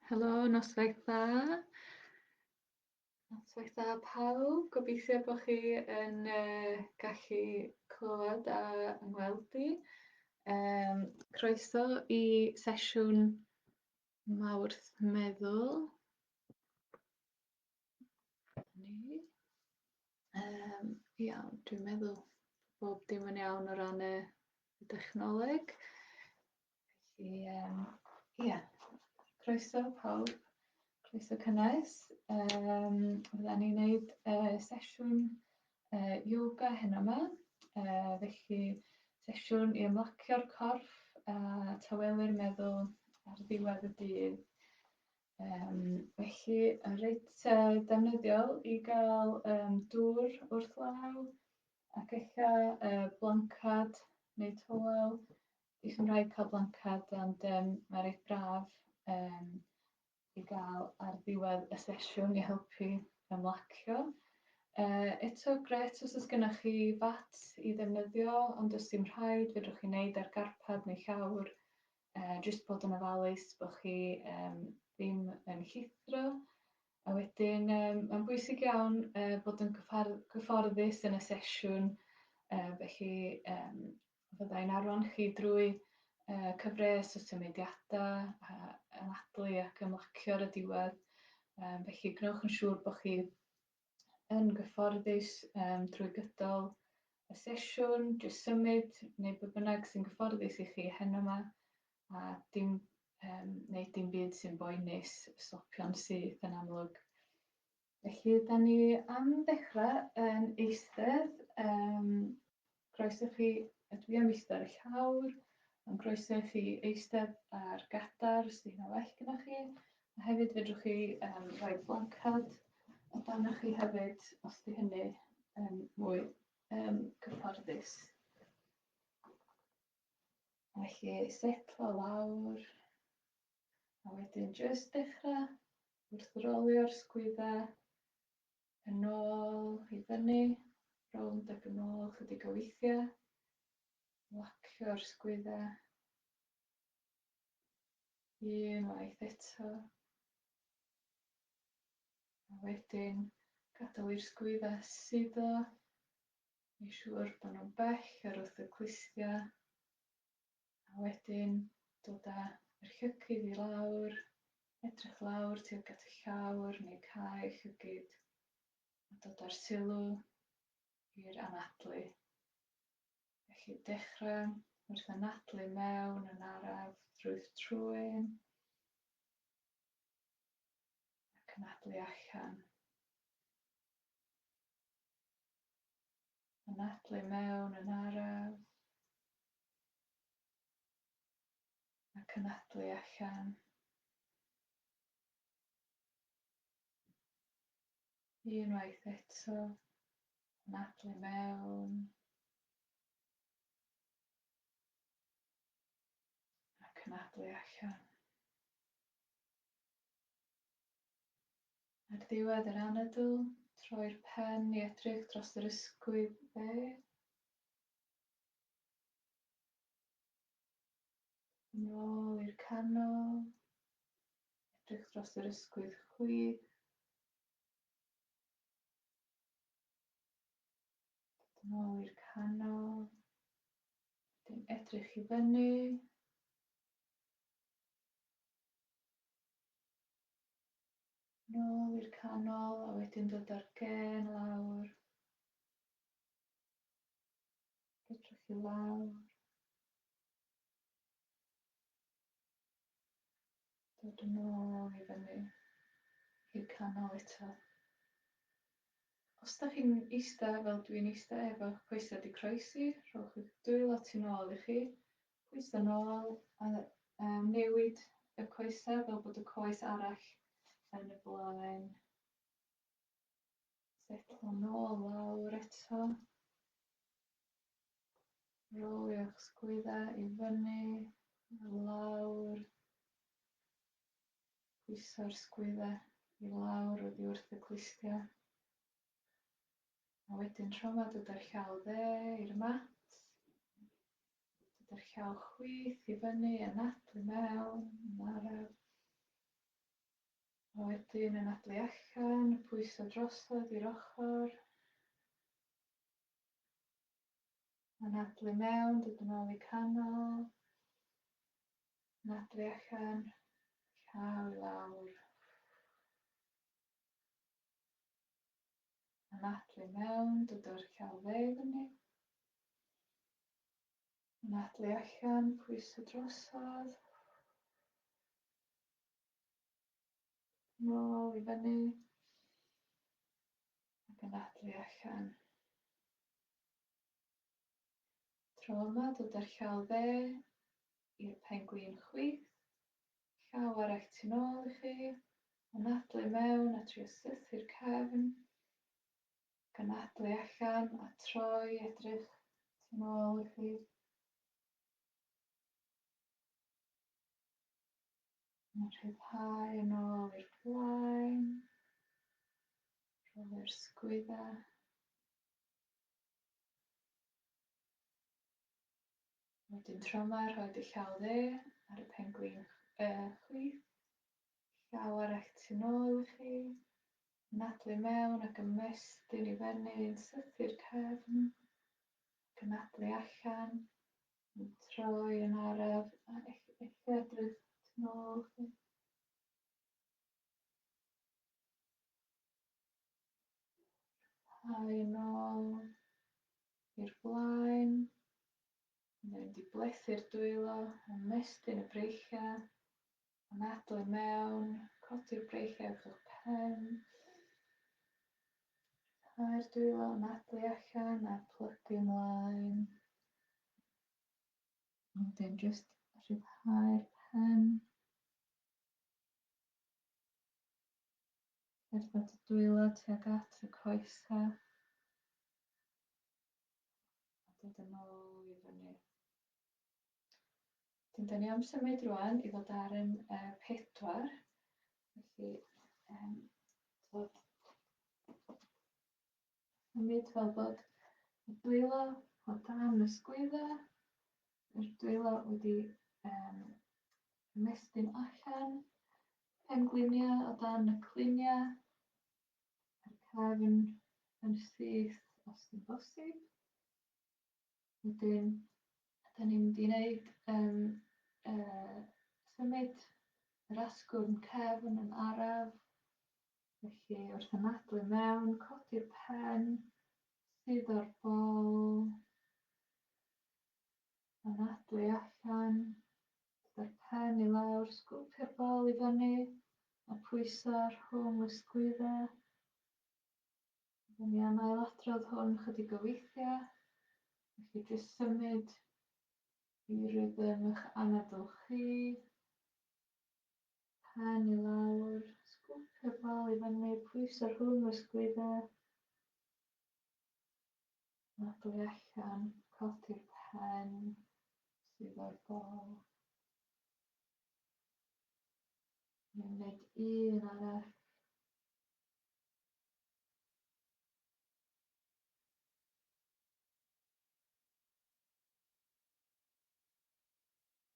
Helo, noswaith dda. Noswaith dda pawb. Gobeithio bod chi yn uh, gallu clywed a ymweld i. Um, croeso i sesiwn mawrth meddwl. Ni. Um, iawn, dwi'n meddwl bob dim yn iawn o ran y, y dechnoleg. Felly, um, ia, croeso pawb, croeso cynnes. Um, Fydda ni'n gwneud uh, sesiwn uh, yoga hyn yma, uh, felly sesiwn i ymlacio'r corff a tawelu'r meddwl ar ddiwedd y dydd. Um, felly, reit uh, defnyddiol i gael um, dŵr wrth law ac eich uh, blancad neu towel. I chi'n rhaid cael blancad, ond um, mae'n reit braf um, i gael ar ddiwedd y sesiwn i helpu ymlacio. Uh, eto gret os oes gennych chi fat i ddefnyddio, ond os dim rhaid, fedrwch chi wneud ar garpad neu llawr. uh, jyst bod yn ofalus bod chi um, ddim yn llithro. A wedyn, um, mae'n bwysig iawn uh, bod yn gyfforddus yn y sesiwn, uh, felly um, fyddai'n arwain chi drwy uh, cyfres o symudiadau, uh, anadlu ac ymlacio ar y diwedd. Um, felly, gwnewch yn siŵr bod chi yn gyfforddus um, drwy gydol y sesiwn, jyst symud neu be bynnag sy'n gyfforddus i chi heno yma a dim, um, neu dim byd sy'n boenus y stopion sydd yn amlwg. Felly, da ni am ddechrau yn eistedd um, Croeso chi, ydw i am eistedd ar y llawr, mae'n groeso i chi eistedd ar gadar os ydy hynna well gyda chi. A hefyd fedrwch chi um, rhoi blancad o dan chi hefyd os ydy hynny um, mwy um, cyfforddus. Felly setlo lawr a wedyn jyst dechrau wrth rolio'r sgwydda yn ôl i fyny, rownd ac yn ôl chydig o weithiau. Locio'r sgwyddau. Un waith eto. A wedyn gadael i'r sgwyddau suddo. Mae'n siŵr bod nhw'n bell ar wrth y clustiau. A wedyn dod â yr llygid i lawr, edrych lawr tuag at y llawr neu cau llygid a dod â'r sylw i'r anadlu. Felly dechrau wrth anadlu mewn yn araf drwy'th trwyn ac anadlu allan. Anadlu mewn yn araf a cynadwy allan unwaith eto, anadlu mewn a cynadwy allan. Ar ddiwedd yr anadl, troi'r pen i edrych dros yr ysgwydd dde. Yn ôl i'r canol. Edrych dros yr ysgwydd chwith. Yn ôl i'r canol. Wedyn edrych i fyny. Nôl i'r canol a wedyn dod ar gen lawr. Edrych i lawr. Dod yn ôl i fyny i'r canol eto. Os da chi'n eista fel dwi'n eista efo'ch coesau di croesi, rhowch y dwylo lot yn ôl i chi, pwyso yn ôl a um, newid y coesau fel bod y coes arall yn y blaen. Setlo nôl lawr eto. Rolio'ch sgwydda i fyny, lawr. Pwyso'r sgwydda i lawr oddi wrth y clustia. A wedyn trofod y dy'r llaw dde i'r mat. Dy'r llaw chwith i fyny, anadlu mewn, yn araf. Wedyn anadlu allan, pwyso drosodd i'r ochr. Anadlu mewn, dod yn ôl i canol. Anadlu allan, llaw i lawr. Anadlu mewn, dod o'r llaw dde i fyny. Anadlu allan, pwyso drosodd. Nôl i fyny. Ac yn adlu allan. Tro yma, dod â'r llaw dde i'r pen gwyn chwith. Llaw arall tu nôl i chi. Yn adlu mewn a trio sythu'r cefn. Ac yn adlu allan a troi edrych tu nôl i chi. A rhyddhau yn ôl i'r blaen. Rhoi'r sgwydda. Wedyn tro yma, rhoi dy llaw dde ar y penglin uh, chwith. Llaw arall tu nôl i chi. Nadlu mewn ac ymestyn i fyny yn sythu'r cefn. Ac yn nadlu allan. Troi yn araf a eich edrych yn ôl chi. Rhai yn ôl i'r blaen. Mae'n mynd i blethu'r dwylo, ymestyn y breichiau. Yn adel i mewn, codi'r breichiau wrth eich pen. Rhai'r dwylo yn adel i allan a plygu ymlaen. Wedyn jyst rhyddhau'r pen. Cerdded y dwylo tuag at y coesa. A dod yn ôl i fyny. Wedyn, da ni am symud rwan i fod ar yn e, pedwar. Felly, um, dod symud fel bod y dwylo o dan y sgwydda, yr dwylo wedi um, ymestyn allan, pengliniau o dan y cliniau, a'r cefn yn syth os yn bosib. Wedyn, da ni'n mynd i wneud um, uh, symud yr asgwrn cefn yn araf, felly wrth ymadael mewn, codi'r pen, sydd o'r bol, anadlu allan, gyda'r pen i lawr, sgwpio'r bol i fyny, a pwyso rhwng y sgwydda, Dyn ni am ailadrodd hwn chydig o weithiau, felly jyst symud i rhythm eich anadl chi. Pen i lawr, sgwpio'r bol i fyny, pwyso rhwng y sgludau. Anadlu allan, codi'r pen sydd o'r bol. Ni'n gwneud un arall.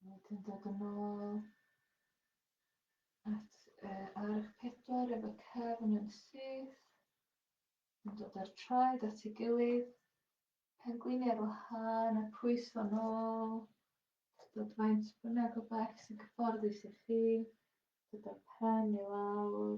Wedyn dod yn ôl at uh, arch pedwar efo cefn yn syth. Yn dod â'r traed at ei gilydd. Pengwini ar wahân a pwys o'n ôl. Dod faint bynnag o bell sy'n cyfforddus i chi. Dod â'r pen i lawr.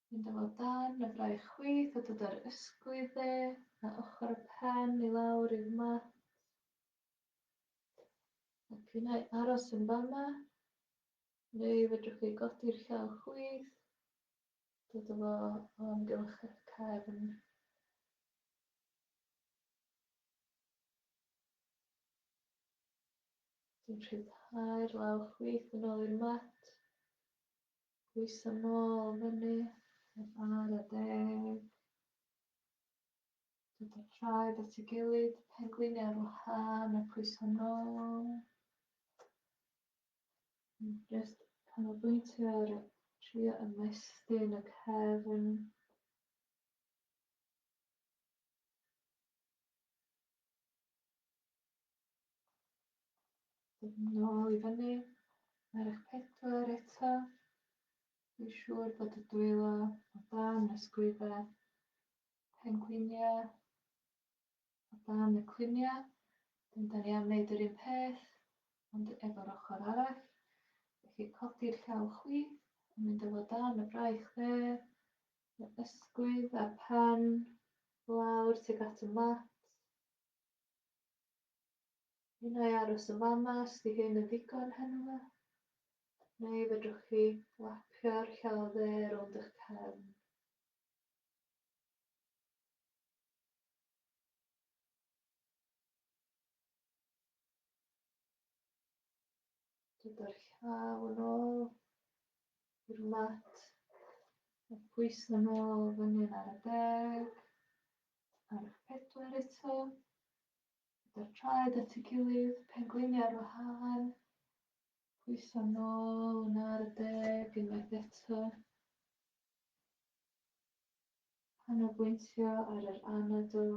Mynd â fo o dan y fraich chwith a dod â'r ysgwydd dde a ochr y pen i lawr i'r mat. A pinnau aros yn fama, neu fedrwch chi godi'r llaw chwith, dod â fo o amgylch eich cefn. Dwi'n rhyddhau'r law chwith yn ôl i'r mat. Pwyso nôl fyny, heb ar a deg. Dod y traed at y gilydd, penglini ar wahân a pwyso nôl. Just canolbwyntio ar y trio ymestyn y cefn. Nôl i fyny. Mae'r eich pedwar eto. Dwi'n siŵr bod y dwylo o dan y sgwydda pengwiniau, o dan y cliniau. Dyn da ni am wneud yr un peth, ond efo'r ochr arall. Felly codi'r llaw chwi, yn mynd efo dan y braich dde, y ysgwydd a'r pen, lawr tuag at y mat. Ni wna i aros yn fama os di hyn yn ddigon heno fe. Neu fedrwch chi lapio'r llaw dde rownd eich cefn. Dod o'r llaw yn ôl i'r mat. Mae pwys yn ôl fan hyn ar y deg. Ar eich pedwar eto. Pedwar traed at ei gilydd, pengliniau ar wahân. Pwyso nôl yn ar y deg unwaith eto. Canolbwyntio ar yr anadl.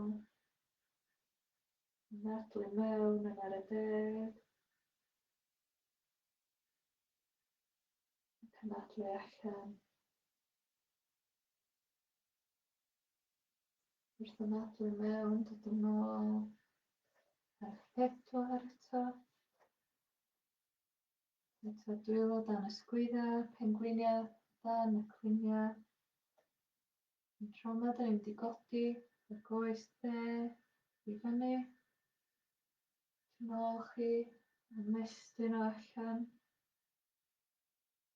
Nadlu mewn yn ar y deg. Cynadlu allan. Wrth ymadael i mewn, dod yn ôl ar eich pedwar eto. Eto dwylo dan y sgwydda, pengwiniau dan y cwiniau. Yn tro yma, da ni'n mynd i godi y goes dde i fyny. Yn ôl chi, ymestyn o allan.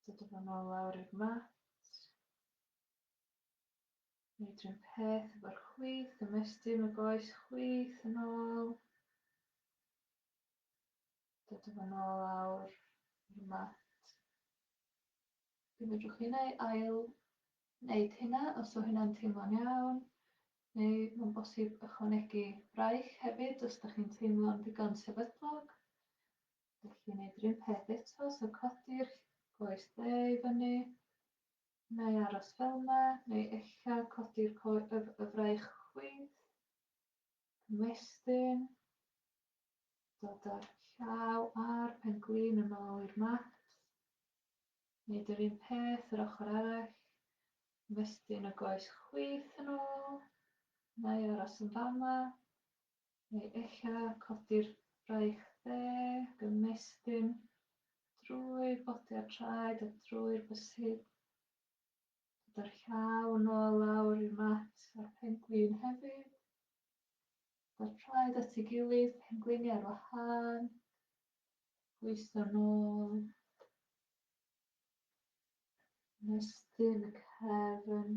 Dod yn ôl lawr i'r mat. Neud rhyw peth efo'r chwith, ymestyn y goes chwith yn ôl. Dod efo nôl awr i'r mat. Fe fedrwch chi neu ail wneud hynna os o hynna'n teimlo'n iawn, neu mae'n bosib ychwanegu braich hefyd os da chi'n teimlo'n ddigon sefydlog. Felly wneud yr un peth eto, so codi'r goes dde i fyny, Neu aros fel 'na, neu ella codi'r coe yf y fraich chwith. Ymestyn. Dod â'r llaw a'r pen glin yn ôl i'r mat. Neud yr un peth yr ochr arall. Ymestyn y goes chwith yn ôl. Neu aros yn fama. Neu ella codi'r braich dde, gymestyn drwy'r bodiad traed a drwy'r bysyd. Dod â'r llaw yn ôl lawr i'r mat a'r pengwin hefyd. Dod traed at ei gilydd, pengwini ar wahân. Gweithio nôl. Mestyn y cefn.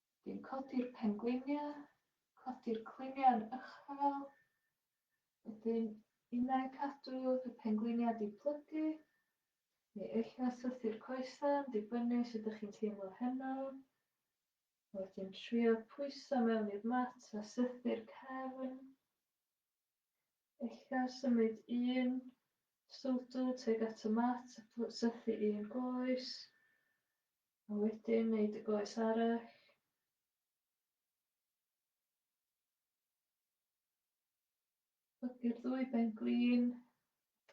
Dwi'n codi'r pengwiniau, codi'r cluniau yn uchel, wedyn innau cadw y pengwiniau diplygu, neu ella sythu'r coesau yn dibynnu sut dych chi'n teimlo heno, a wedyn trio pwyso mewn i'r mat a sythu'r cefn, ella symud un stwdl tuag at y mat a sythu un goes, A wedyn wneud y goes arall. Plygu'r ddwy ben glin,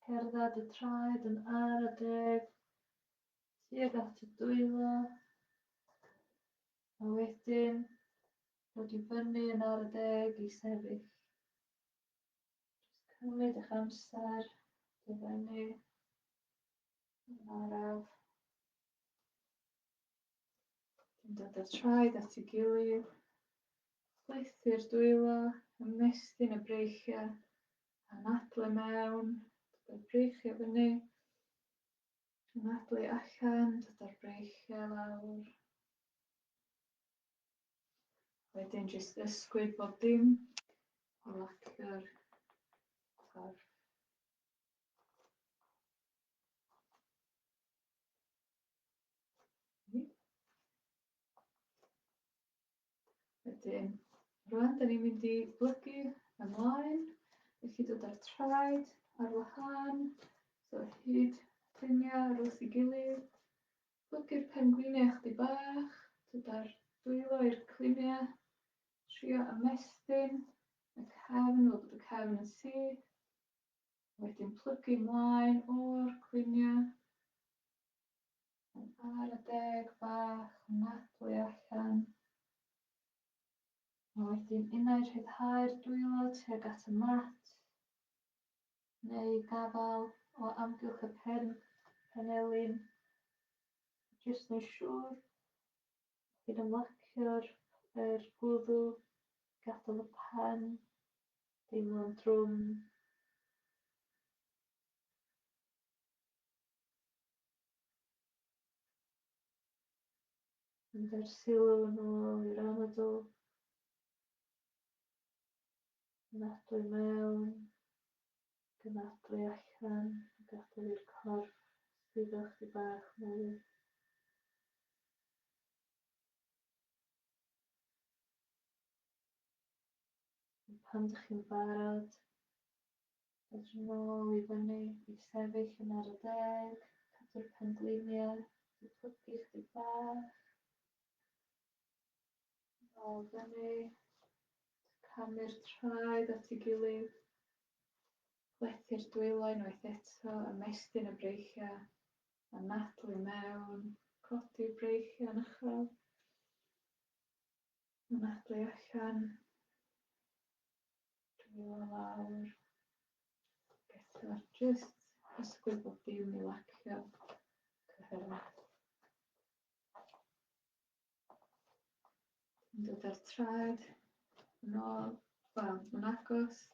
cerdded y traed yn ar y deg, tuag at y dwylo, a wedyn dod i fyny yn ar y deg i sefyll. Just cymryd eich amser, dyfennu. Araf. Yn dod â'r traed at ei gilydd. Chwythu'r dwylo, ymestyn y breichiau, anadlu mewn, dod â'r breichiau fyny, anadlu allan, dod â'r breichiau lawr. Wedyn jyst ysgwyd bob dim, lacio'r corff. Wedyn, rwan, da ni'n mynd i blygu ymlaen. Ydych chi dod ar traed, ar wahân, so hyd ffiniau ar wrth i gilydd. Blygu'r pengwiniau chdi bach, dod ar dwylo i'r cliniau, trio ymestyn y cefn, fel bod y cefn yn syth. Wedyn plygu mlaen o'r clunia. Yn ar y deg fach, nadlu allan. A wedyn unai rhyddhau'r dwylo tuag at y mat, neu gafal o amgylch y pen, penelin, jyst neu siŵr, chi'n ymlacio'r er gwddw, gadael y pen, Teimlo'n drwm. Mynd â'r sylw yn ôl i'r anadl. Nadlu mewn, gynadlu allan, gadael i'r corff suddo chdi bach mwy. Pan dych chi'n barod, edrych yn ôl i fyny i sefyll yn ar y deg, cadw'r pengliniau wedi plygu chdig bach. Yn ôl fyny, camu'r traed at ei gilydd, plethu'r dwylo unwaith eto, ymestyn y breichiau, anadlu mewn, codi'r breichiau yn uchel. Mae'n adwy allan. Dwi'n mynd lawr. Gyda just ysgwydd bod dim i lacio. Cyfyrwyd. Dwi'n dod ar traed. Yn ôl. Wel, mae'n agos.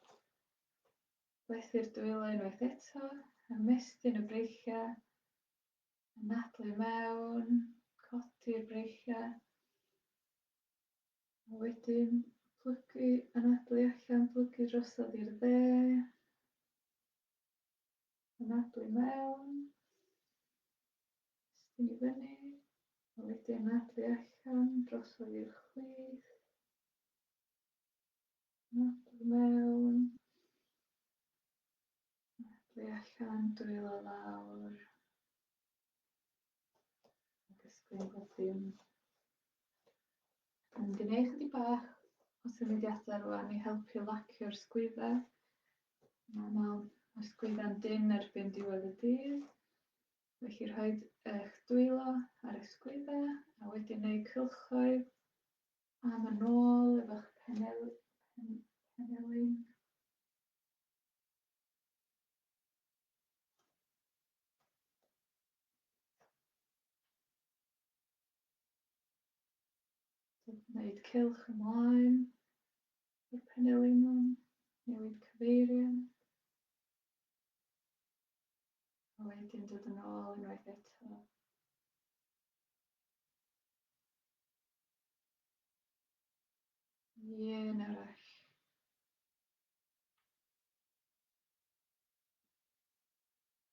Beth i'r dwylo unwaith eto. Ymestyn y breichiau. Anadlu mewn, codi'r breichiau, a wedyn plygu, anadlu allan, plygu drosodd i'r dde, anadlu mewn, estyn i fyny, a wedyn anadlu allan, drosodd i'r chwith, anadlu mewn, Medlu allan, dwylo lawr. Disgwyl bod dim. Yn gwneud chydig bach o symudiadau rwan i helpu lacio'r sgwydda. Mae'n anodd, mae'r sgwydda'n dyn erbyn diwedd y dydd. Felly rhoi eich dwylo ar y sgwydda a wedyn ei cylchoedd am yn ôl efo'ch penel, pen, penelin. Wneud cylch ymlaen i'r penelingwn, newid cyfeiriad. A wedyn dod yn ôl unwaith eto. Ie, nawr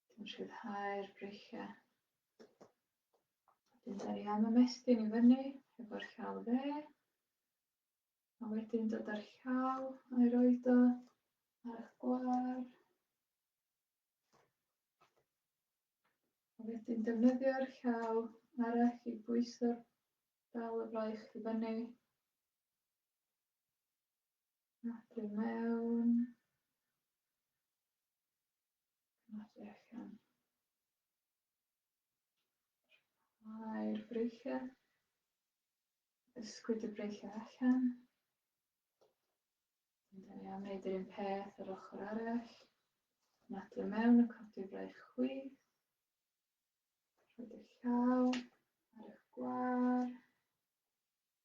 Dim rhyddhau'r breichiau. Wedyn da ni am ymestyn i fyny efo'r llaw dde. A wedyn dod â'r llaw a'i roed o ar eich gwar. A wedyn defnyddio'r llaw arall i bwyso'r dal y braich i fyny. Nodi mewn. Nodi allan. Rhai'r breichiau. Ysgwyd y breichiau allan. Dyna ni am wneud yr un peth yr ochr arall. Nodi mewn y codi braich chwith. Rhaid y llaw ar eich gwar.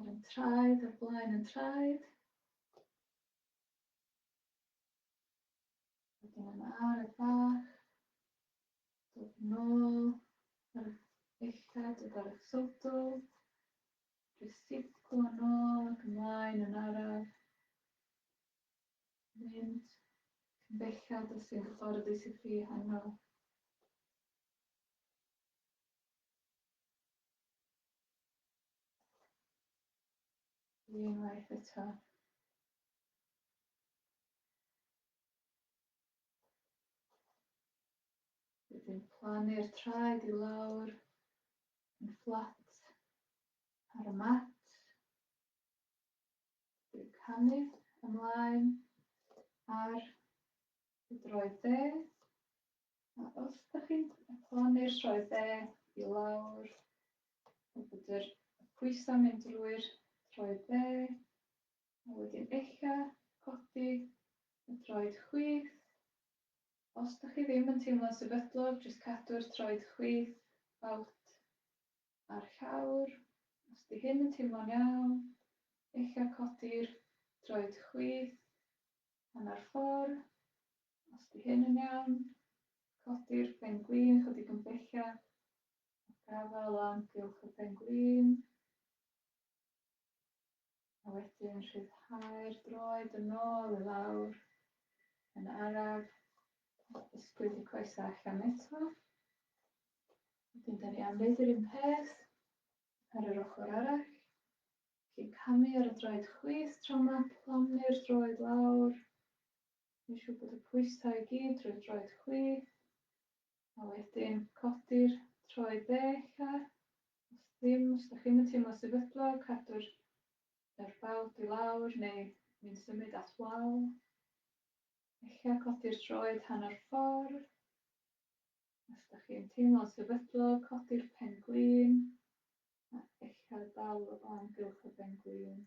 Ar y traed, ar blaen y traed. Wedyn yn ar y bach. Dod yn ôl. Ar y echad, dod ar y sodol. Jyst sipgo yn ôl ac ymlaen yn araf. Mynd bellad os sy'n gyfforddus i chi hanno. Unwaith eto. Wedyn plannu'r traed i lawr yn fflat ar y mat. Dwi'n canu ymlaen ar y droed dde. A os da chi'n plannu'r sioe dde i lawr, o bod yr pwysau mynd drwy'r troed dde, a wedyn ella codi y troed chwith. Os da chi ddim yn teimlo'n sefydlog, jyst cadw'r troed chwith out a'r llawr. Os di hyn yn teimlo'n iawn, ella codi'r droed chwith hanner ffordd Os di hyn yn iawn, codi'r pen gwin chydig yn bellach, a gafael o amgylch y pen gwin. A wedyn rhyddhau'r droed yn ôl i lawr, yn araf, ysgwyd y coesau allan eto. Wedyn da ni am wneud yr un peth ar yr ochr arall. Felly camu ar y droed chwith tro yma, plonnu'r droed lawr, Dwi'n siŵr bod y pwysau i gyd drwy droed chwith. A wedyn codi'r troed dde ella. Os ddim, os da chi'n teimlo sefydlog, cadw'r yr bawd i lawr neu mi'n symud at wal. Ella codi'r troed hanner ffordd. Os da chi'n teimlo'n sefydlog, codi'r pen glin a ella dal o amgylch y pen glin.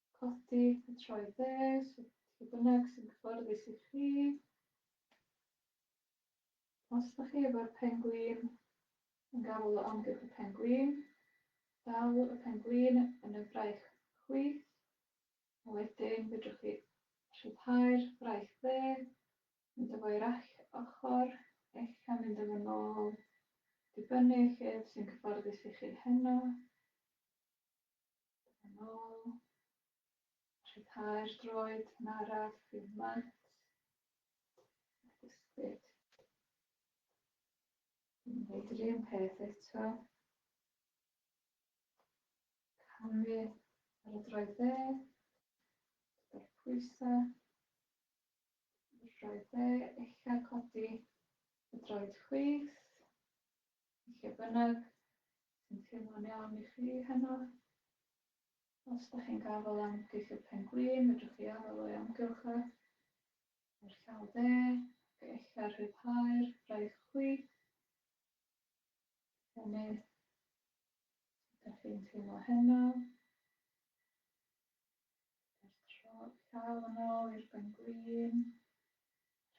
Codi a troi dde, sut lle bynnag sy'n cyfforddus i chi. Os da chi efo'r pengwin yn gafael o amgylch y pengwin, dal y pengwin yn y fraich chwith, a wedyn fedrwch chi rhyddhau'r fraich dde, mynd efo i'r all ochr, eich a mynd efo nôl, dibynnu lle sy'n cyfforddus i chi heno. Yn ôl. Rhyddhau'r droed yn araf i'w mat. Ac ysgwyd. Yn gwneud yr un peth eto. Camu ar y droed dde. Dyda'r pwysau. Y droed dde, eich codi y droed chwith. Lle bynnag sy'n teimlo'n iawn i chi heno. Os da chi'n gafael am geithiwr pengwin, fedrwch chi afael o'i amgylch e. Mae'r llaw dde, ac ella rhyddhau'r braich chwi. Hynny, sut da chi'n teimlo heno? llaw yn ôl i'r bengwin,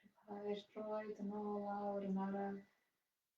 rhyddhau'r droed yn ôl lawr yn araf,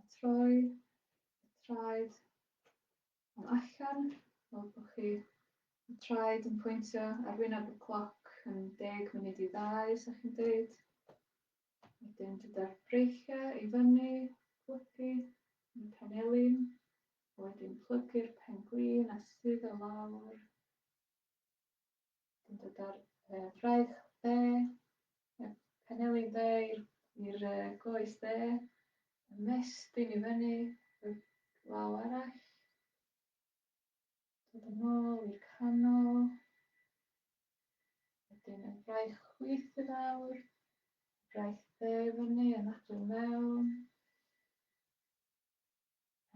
a troi y traed am allan, fel bod chi y traed yn pwyntio ar wyneb y cloc yn deg munud i ddau, sa chi'n deud. Wedyn dyda'r breichiau i fyny, plygu yn y penelin, wedyn plygu'r pen glin a sydd o lawr. Yn dod ar y fraich dde, y penelin dde i'r uh, goes dde, y mestyn i fyny, y glaw arall. Dod yn ôl i'r canol. Wedyn y fraich chwith i lawr, y fraich dde i fyny, yn adwy mewn,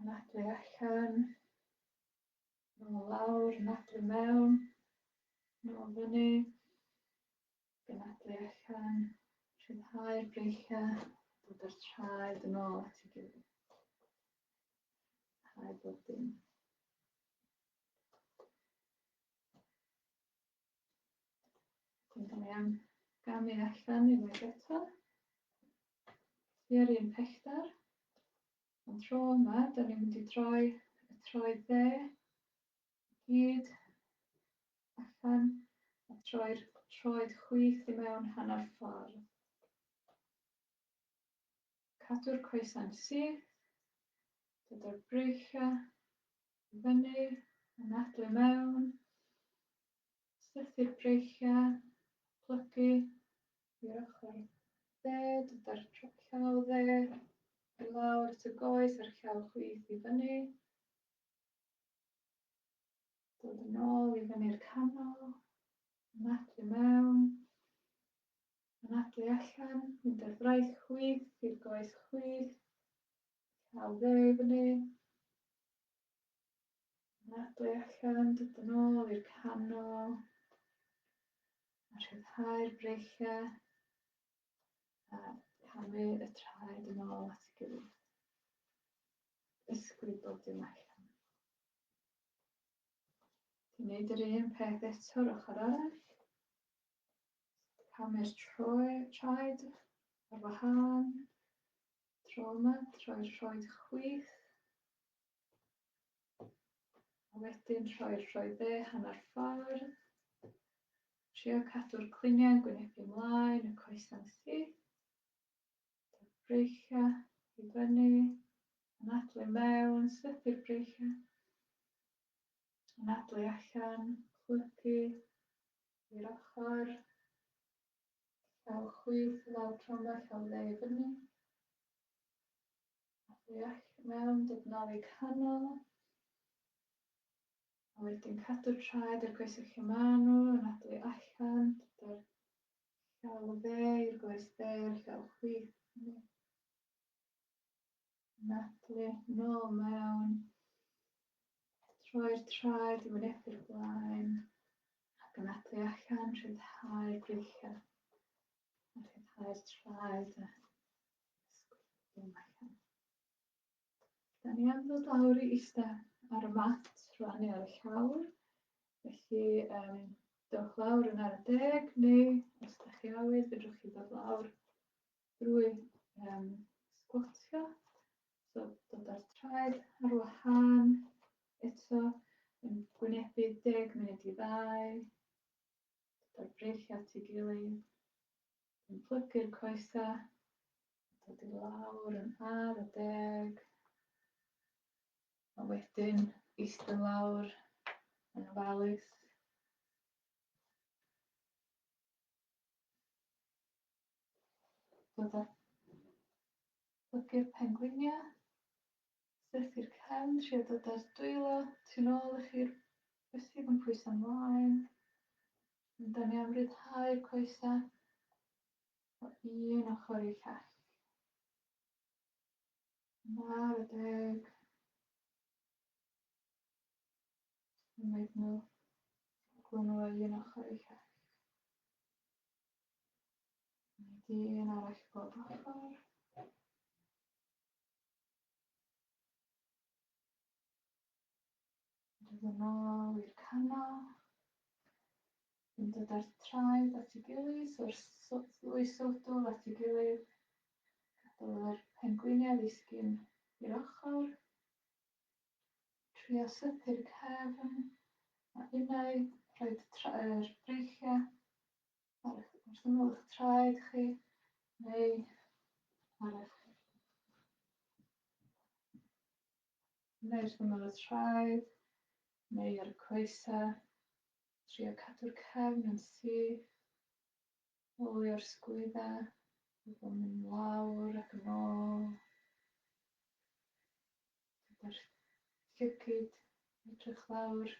yn adwy allan. Nôl lawr, nadlu mewn, nôl fyny, gynadlu allan, rhyddhau'r breichiau, dod â'r traed yn ôl at ei gilydd. Rhai bob dim. Dyna ni am gamu allan unwaith eto. I'r un pellter. Am tro yma, da ni'n mynd i droi y troi dde i gyd allan a troi'r troed chwith i mewn hanner ffordd. Cadw'r coesau'n syth, dyda'r breichiau i fyny, anadlu mewn, Syrthir breichiau plygu i'r ochr dde, dod â'r llaw dde i lawr at y goes a'r llaw chwith i fyny. Dod yn ôl i fyny'r canol, anadlu mewn, anadlu allan, mynd ar fraith chwith i'r goes chwith, llaw dde i fyny, Anadlu allan, dod yn ôl i'r canol. A rhyddhau'r breichiau. A camu y traed yn ôl at ei gilydd. Ysgwyd bob dim allan. Ti'n neud yr un peth eto ar ochr arall. Camu'r traed ar wahân. Tro yma, troi'r troed chwith. A wedyn rhoi'r rhoi dde hanner ffordd. Trio cadw'r cliniau'n gwynebu ymlaen, y coesau'n syth. Breichia i fyny, anadlu mewn, slypu'r breichia. Anadlu allan, chlygu i'r ochr. Llaw chwith, llaw tromba, llaw dde i fyny. A deall mewn dy Nadolig Canol. A wedyn cadw'r traed i'r goesau lle maen nhw, yn adwy allan, gyda'r llaw dde i'r goes dde, llaw chwith. Nadlu, nôl mewn. Troi'r traed i wynebu'r blaen. Ac yn adwy allan, rhyddhau'r breichiau. A rhyddhau'r traed a Dim mae hyn. Da ni am ddod lawr i eista ar y mat rwan neu ar y llawr. Felly, um, dewch lawr yn ar y deg, neu os ydych chi awydd, fedrwch chi ddod lawr drwy um, sgwatio, so dod ar traed ar wahân, eto yn gwynebu deg munud i ddau, dod ar breichiau at ei gilydd, Yn plygu'r coesau, dod i lawr yn ar y deg. A wedyn eistedd lawr yn ofalus. Dod a plygu'r pengwiniau. Sut i'r cefn, trio dod â'r dwylo tu nôl i chi'r bysedd yn pwyso ymlaen. Da ni am ryddhau'r coesa o un ochr i llall. Nawr y deg. Symud nhw. Gwyn nhw o un ochr i llall. Mae di un arall bob ochr. Mynd yn ôl i'r canol. Yn dod â'r traed at ei gilydd, so'r ddwy sodwl at ei gilydd. Gadael yr pengwiniau ddisgyn i'r ochr. Trio sythu'r cefn a unai rhaid traed breichiau. ar eich, wrth ymyl eich traed chi, neu ar eich neu wrth ymyl y traed, neu ar y coesau. Trio cadw'r cefn yn syth, olio'r sgwyddau, bod o'n mynd lawr ac yn ôl. Gyda'r llygyd edrych lawr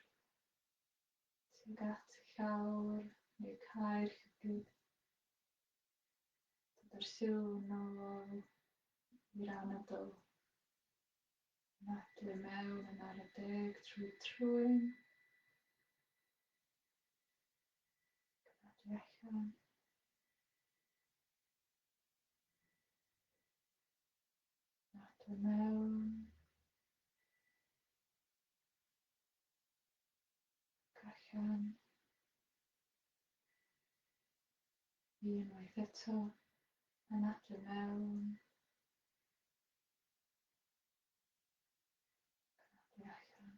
tuag at y llawr neu cau'r llygaid, dod â'r sylw yn ôl i'r anadl, anadlu mewn yn ar y deg trwy trwyn, anadlu allan. Anadlu mewn. Gallwn ni unwaith eto anadlu mewn, anadlu allan.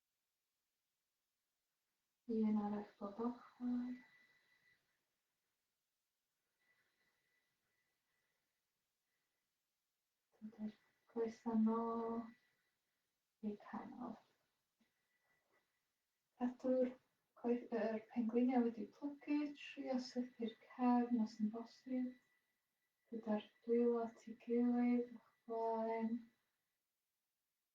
Un arall bob ochr. Dydy'r coesau nôl i'r canol. Cadw'r coes yr pengwiniau wedi plygu, trio sythu'r cefn os yn bosib, gyda'r dwylo at ei gilydd o'ch blaen.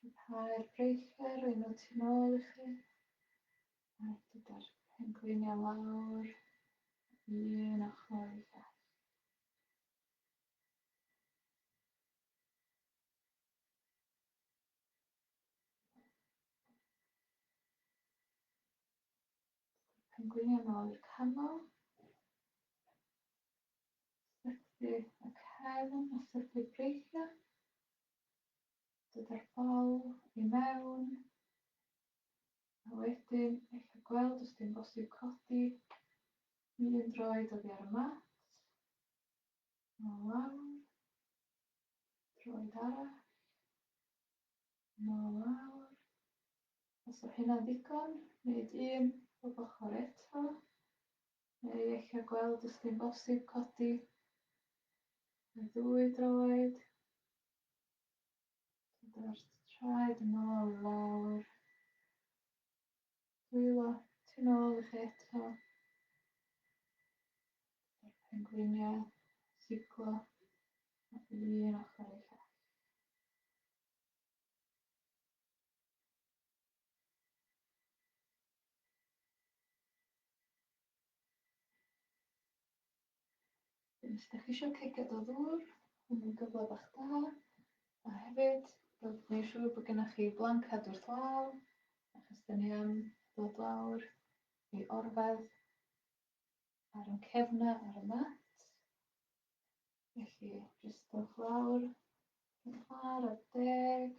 Cryfhau'r breichiau roi nhw tu nôl i chi a dyda'r pengliniau lawr o un ochr i'r llall. Pengliniau nôl i'r canol. Syrthu y cefn a syrthu breichiau. Dydy'r bol i mewn. A wedyn, ella gweld os dim bosib codi i un droed oddi ar y mat. Nôl lawr. Droed arall. Nôl lawr. Os o hynna ddigon, wneud un o ochr eto. Neu eich gweld os dim bosib codi y ddwy droed. Dydy'r traed yn ôl lawr. Dwylo ti'n ôl i chi eto. Dydy'r pengwiniau siglo a bydd un ochr i llall. Os ydych chi eisiau cegad o ddŵr, yn un gyfle bach da. A hefyd, rwy'n gwneud siŵr bod gennych chi blancad wrth law, achos dyn ni am ddod lawr i orfedd ar yn cefna ar y mat. Felly, jyst dewch lawr, yn lawr ar deg.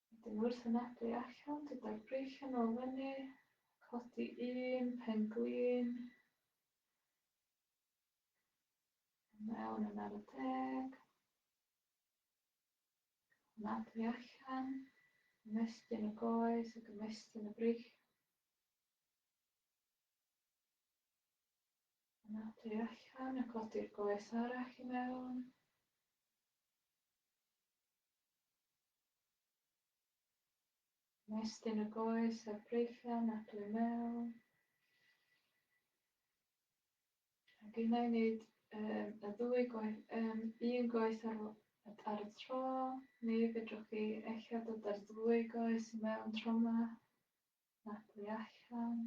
Wedyn wrth ymedru allan gyda'r breichiau nôl fyny, codi un pen glin, i mewn yn ar y deg, ymedru allan, ymestyn y goes ac ymestyn y breichiau. Ymedru allan a codi'r goes arall i mewn. Ymestyn y goes a'r breichiau'n aglu i mewn. A gynna i wneud um, y ddwy goes, um, un goes ar, ar y tro, neu fedrwch chi eich dod ar ddwy goes i mewn tro yma, aglu allan.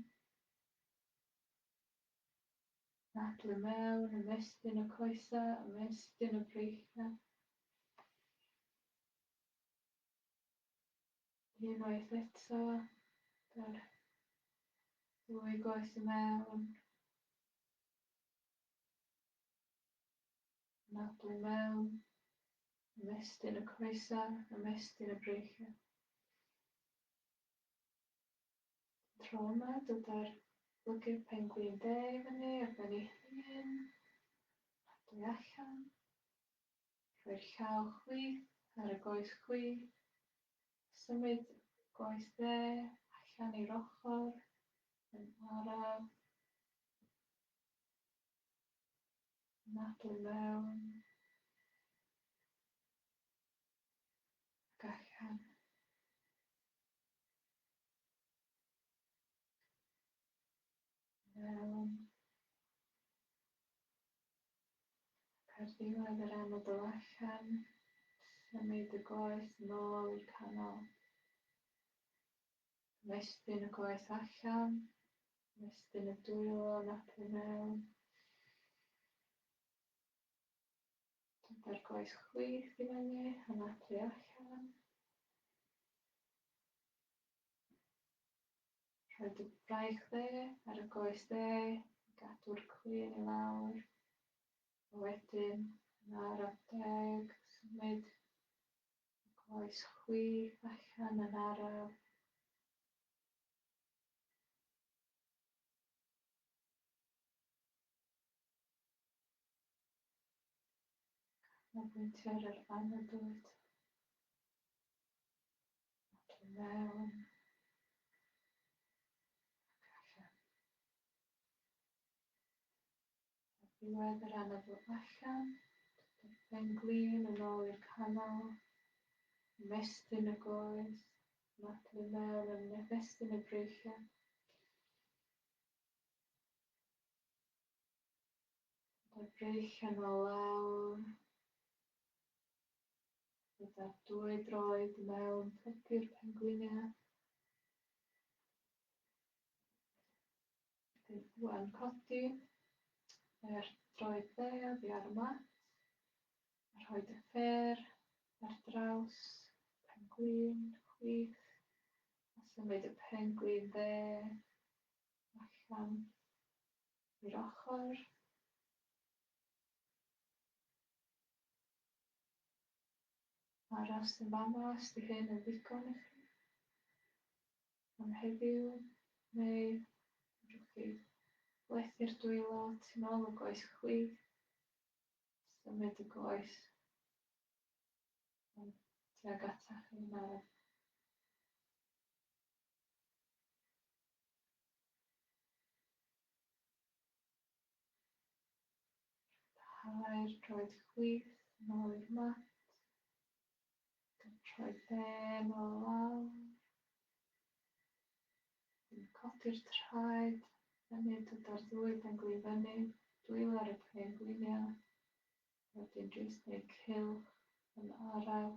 Ac le mewn ymestyn y coesau, ymestyn y breichiau. Unwaith eto, dy'r ddwy goes y mewn. Nadlu mewn, ymestyn y coesau, ymestyn y breichiau. Tro 'ma dyda'r blygydd pengwin de i fyny ar ben ei hun, a'r dwy allan. Rhoi'r llaw chwith ar y goes chwith, symud y goes dde allan i'r ochr yn araf, nadl mewn, ac allan. Mewn. Ac ar ddiwedd yr anadl allan, symud y goes nôl i'r canol. Mestyn y goes allan, mestyn y dwylo napu mewn. Dyna'r gwaith chwith i fyny yn y tu allan. Rhoi dy braich dde ar y goes dde, gadw'r cwyn i lawr. A wedyn, yn ar adeg, symud y goes chwith allan yn araf. Canolbwyntio ar yr anadlyd. Ac i mewn. Ac allan. Ar ddiwedd yr anadl allan, dydy'r pen glin yn ôl i'r canol. Ymestyn y goes. Anadlu i mewn yn nefestyn y breichiau. Gyda breic yn ôl lawr. Gyda dwy droed mewn pypyr pengwiniau. Wedyn rwan codi yr droed dde oddi ar y mat. A rhoi dy fer ar draws pengwin chwith. A symud y pengwin dde allan i'r ochr. Aros yn fama os di hyn yn ddigon i chi. Am heddiw, neu fedrwch chi blethu'r dwylo tu nôl y goes chwith, symud y goes tuag atach chi yn araf. Rhaid rhoi chwith yn ôl i'r mat. Rhoi ben o lawr. Yn codi'r traed. Hynny dyda'r ddwy ben gwy fyny. Dwylo ar y pen gwyniau. Wedyn jyst neu cilch yn araf.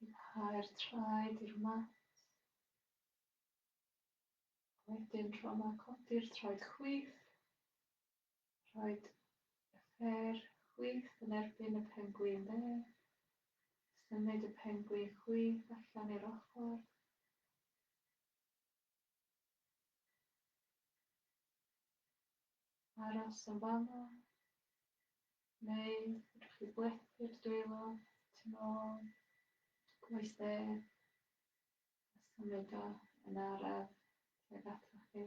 Rhyddhau'r traed i'r mat. Wedyn tro yma, codi'r traed chwith. Rhaid y ffer chwith yn erbyn y pengwin dde. Symud y pengwin chwith allan i'r ochr. Aros yn fama. Neu fedrwch chi blethu dy dwylo tu nôl, cloi stêr, a symud o yn araf tuag atoch chi.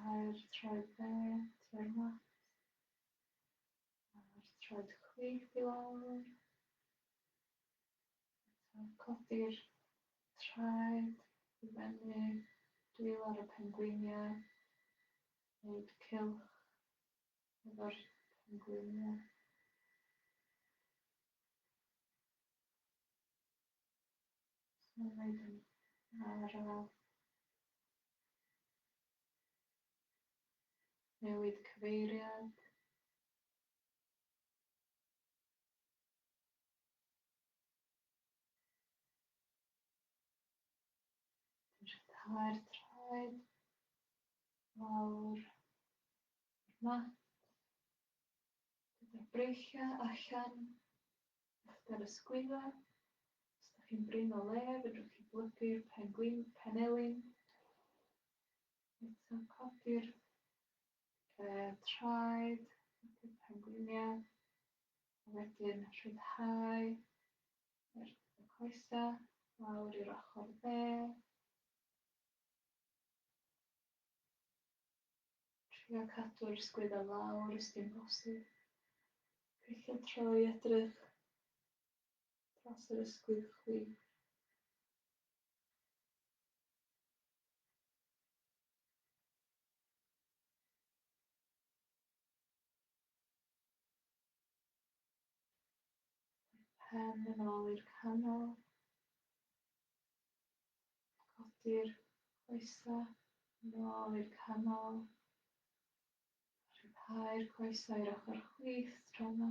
Rhyddhau'r troedfedd tua'r mat. A'r troed chwith i lawr. Eto, codi'r traed i fyny, dwylo ar y pengwiniau, gwneud cylch efo'r pengwiniau. Mae'n wneud yn araf. Newid cyfeiriad. Rhyddhau'r traed lawr i'r mat. Gyda'r breichiau allan uchder y sgwydda. Os ydych chi'n brin o le, fedrwch chi blygu'r penelin. Eto codi'r uh, traed, codi'r pengwiniau, a wedyn rhyddhau yr, y coesa lawr i'r ochr dde. Trio cadw'r sgwydda lawr os dim bosib. Gweithio troi edrych dros yr ysgwydd chwi. Pen yn ôl i'r canol. Codi'r coesau yn ôl i'r canol. Rhyddhau'r coesau i'r ochr chwith tro yma.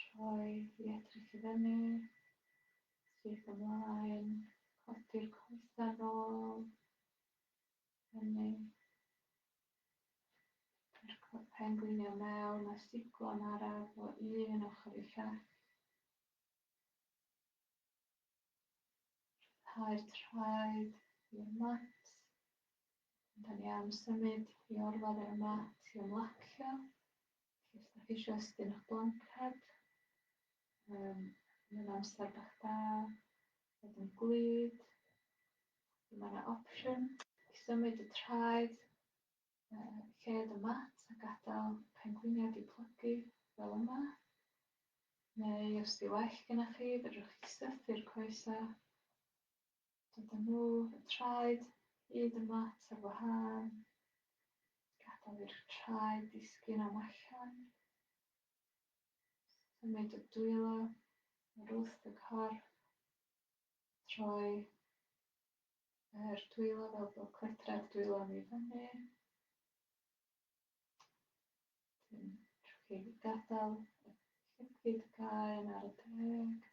Troi i edrych i fyny, syth ymlaen, codi'r coesau nôl, fyny. Yr corpen gwynio mewn a siglo'n araf o un ochr i llall. Rhyddhau'r traed i'r mat. Da ni am symud i orwedd ar y mat i ymlacio. Felly os da chi eisiau ystum eich blanced, um, mae'n amser bach da, fod yn glyd, mae yna opsiwn i symud y traed, uh, lled y mat a gadael pengwiniad i plygu fel yma. Neu os di well gyda chi, fedrwch chi sythu'r coesau Dyda nhw, y traed, hyd yma tua wahân. Gadael i'r traed ddisgyn am allan. Symud y dwylo o'r wrth y corff. Troi yr dwylo fel bod cledra'r dwylo ni fyny. Wedyn, trwy chi gadael y llipid gael ar y deg.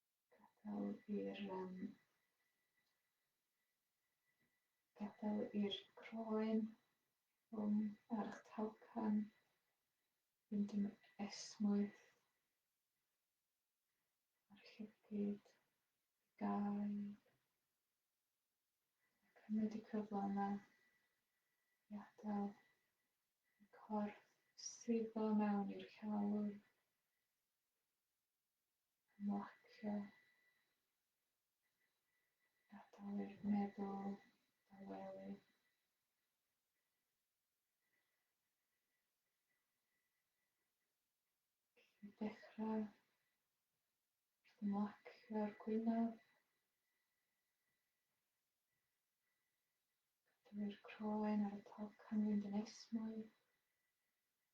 Gadael i'r um, gadael i'r croen rhwng arch talcan fynd yn esmwyth a'r llygyd gael cymryd y cyfle yma i adael y corff sifo mewn i'r llawr Marcio gadair meddwl dawelu. Felly dechrau wrth ymlacio'r gwynaf. Gadair croen ar y top canfynd yn esmwyth.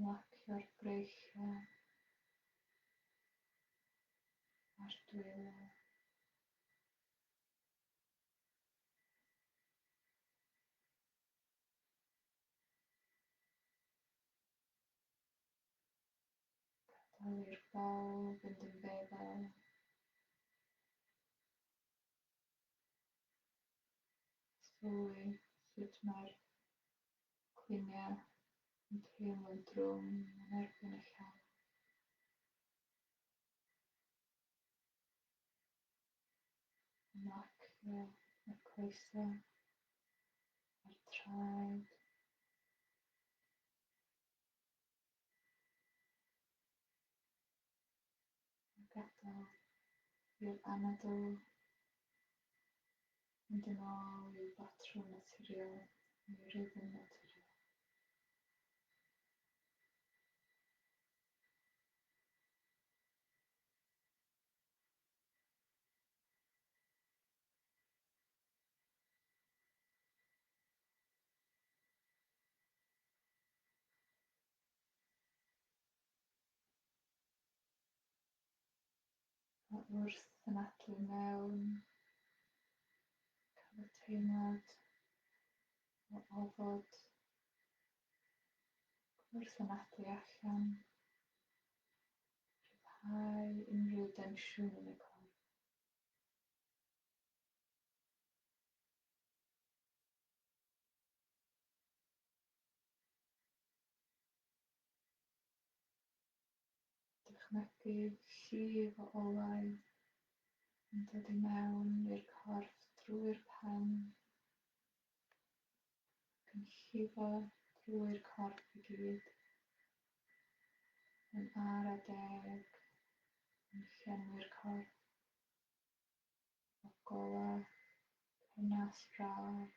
Marcio'r breichiau a'r dwylo. Gadael i'r bol fynd yn feddal. Sylwi sut mae'r Cwynion yn teimlo'n drwm yn erbyn y llall. Ymlacio y coesau a'r traed. a gadael i'r anadl fynd yn ôl i'w batrwm naturiol neu rythm naturiol. A wrth anadlu mewn, cael y teimlad o ofod, wrth anadlu allan, rhyddhau unrhyw densiwn yn y corff. Dychmygu'r llif o olau yn dod i mewn i'r corff drwy'r pen ac yn llifo drwy'r corff i gyd, yn ara deg yn llenwi'r corff o golau pennas braf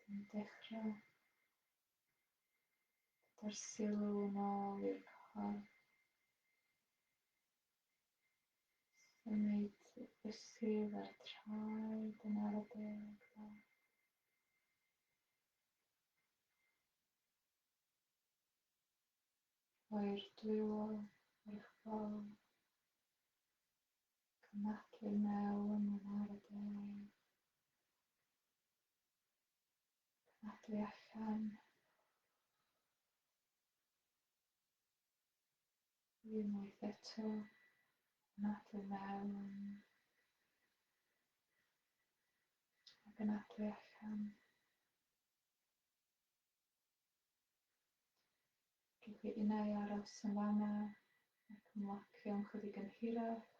Dwi'n dechrau gyda'r sylw yn ôl i'r corff. Symud y bysedd a'r traed yn ar y deg bach. Rhoi'r dwylo ar eich bol. Cymhlethu mewn yn ar y deg. Cymhlethu allan. Unwaith eto. Cymhlethu mewn. Ac yn allan. Rhowch i innau aros yn fama ac ymlacio am chydig yn hirach,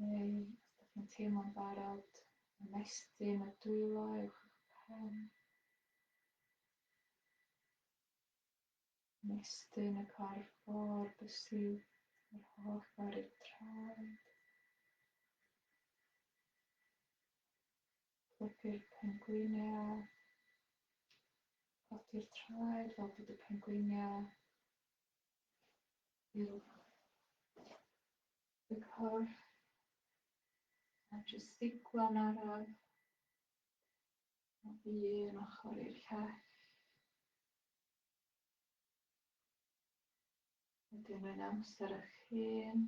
neu os dych chi'n teimlo'n barod, ymestyn y dwylo uwch eich pen. Ymestyn y corff o'r bysi yr holl ffordd i'r traed. Helpu'r pengwiniau. Codi'r traed fel bod y pengwiniau uwch y corff. A jyst ddiglo'n araf. Nod i un ochr i'r llall. Wedyn mae'n amser eich hun.